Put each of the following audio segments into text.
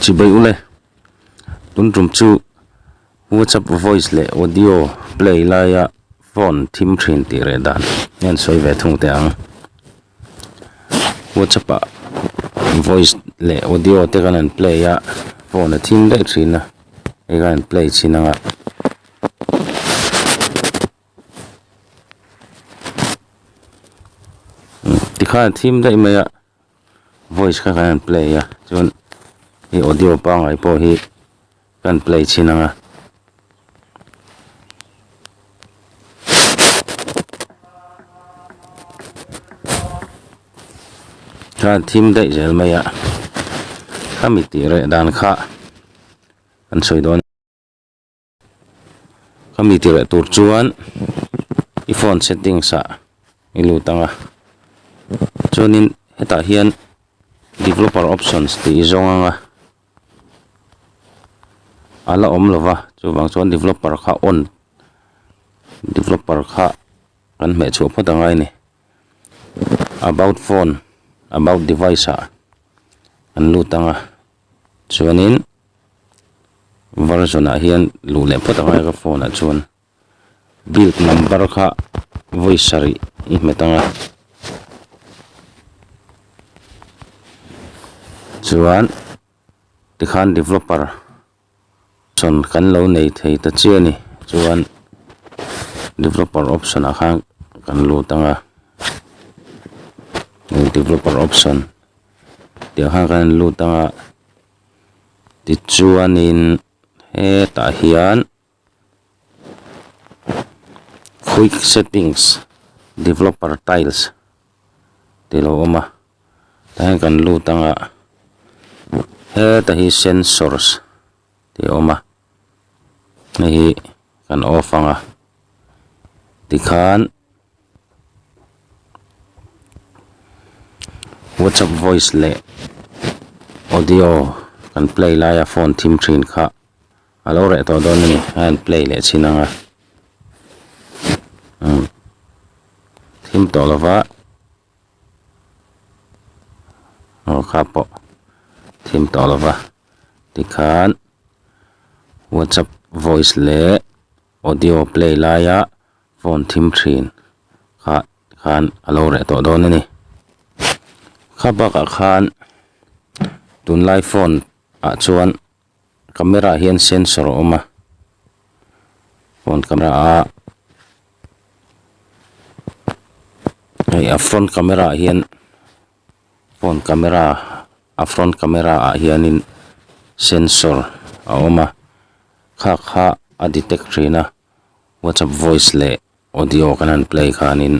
Chibai ule, Tunrum chu WhatsApp voice leh audio play laia phone thim thin tih reh dan hi an sawi ve thung teh ang. WhatsApp ah voice leh audio te kan han play a, phone a thim daih thin a, hei khan an play chin ang a. Tikhan a thim daih mai a. voice kha kan play a chuan hei audio pangai pawh hi kan play chhin anga kan thim daih zel mai a khami tih reh dan kha kan sawi dawn Ka mi ti reh tur chuan i phone settings ah i lut ang a, chuanin hetah hian developer options tih i zawng ang a, a la awm lova chuvang chuan developer kha on, developer kha kan hmeh chhuah phawt angai ni, about phone, about device ah kan lut ang a, Chuanin Verizon-ah hian luh leh phawt avanga ka phone-ah chuan build number kha vawi sarih i hmet anga, chuan tikhan developer Option kan lo nei thei ta chiah a ni. Chuan Developer option ah khan kan lut ang a. Hei Developer option tih khan kan lut ang a. Tichuanin hetah hian Quick Settings Developer Tiles. tih lo awm a tah hian kan lut ang ah heta hi sensors tih a awm a hei hi kan off ang a ti khan whatsapp voice leh audio kan play lai a phone thim thin kha. a lo reh tawh dawn a ni a han play leh chin ang a umm thim tawh lo va aw kha pawh thim tawh lo va tikhan whatsapp voice leh audio play laia phone thim thin kha khan a lo reh tawh dawn a ni kha bakah khan tunlai phone ah chuan-- Camera hian sensor a awm a, phone camera a a front camera ah hian phone camera a front camera ah hianin sensor a awm a khakha a detect thin a Whatsapp voice leh-- Audio kan han play khanin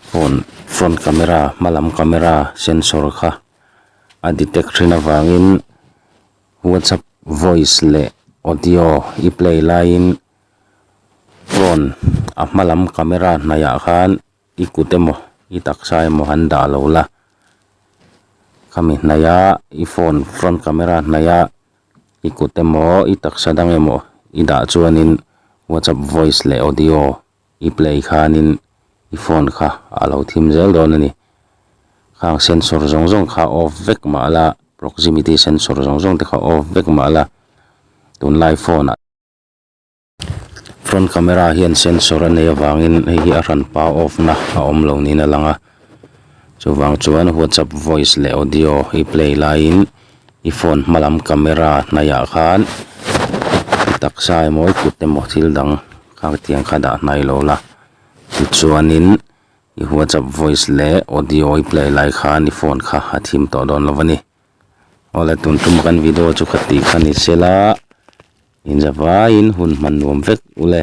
phone front camera hma lam camera sensor kha a detect ṭhin avangin WhatsApp voice leh audio i play laiin phone a hma lam camera hnaihah khan. I kut emaw i taksa emaw han dah lo la, khami hnaih a i phone front camera hnaih a i kut emaw i taksa dang emaw i dah chuanin WhatsApp voice leh audio i play khanin i phone kha a lo thim zel dawn a ni. Khang sensor zawng zawng kha off vek mah la, proximity sensor zawng zawng te kha off vek mah la tunlai phone ah. Front camera hian sensor a nei avangin hei hi a hran pa off na a awm lo niin a lang a chuvang chuan whatsapp voice leh audio i play laiin i phone hma lam camera hnaihah khan mi taksa emaw i kut emaw thil dang khang tiang kha dah hnai lo la tichuanin i whatsapp voice leh audio i play lai khan i phone kha a thim tawh dawn lo va ni. Awle tun tuma kan video chu kha tih kha ni sela inzavaiin hun hman nuam vek ule.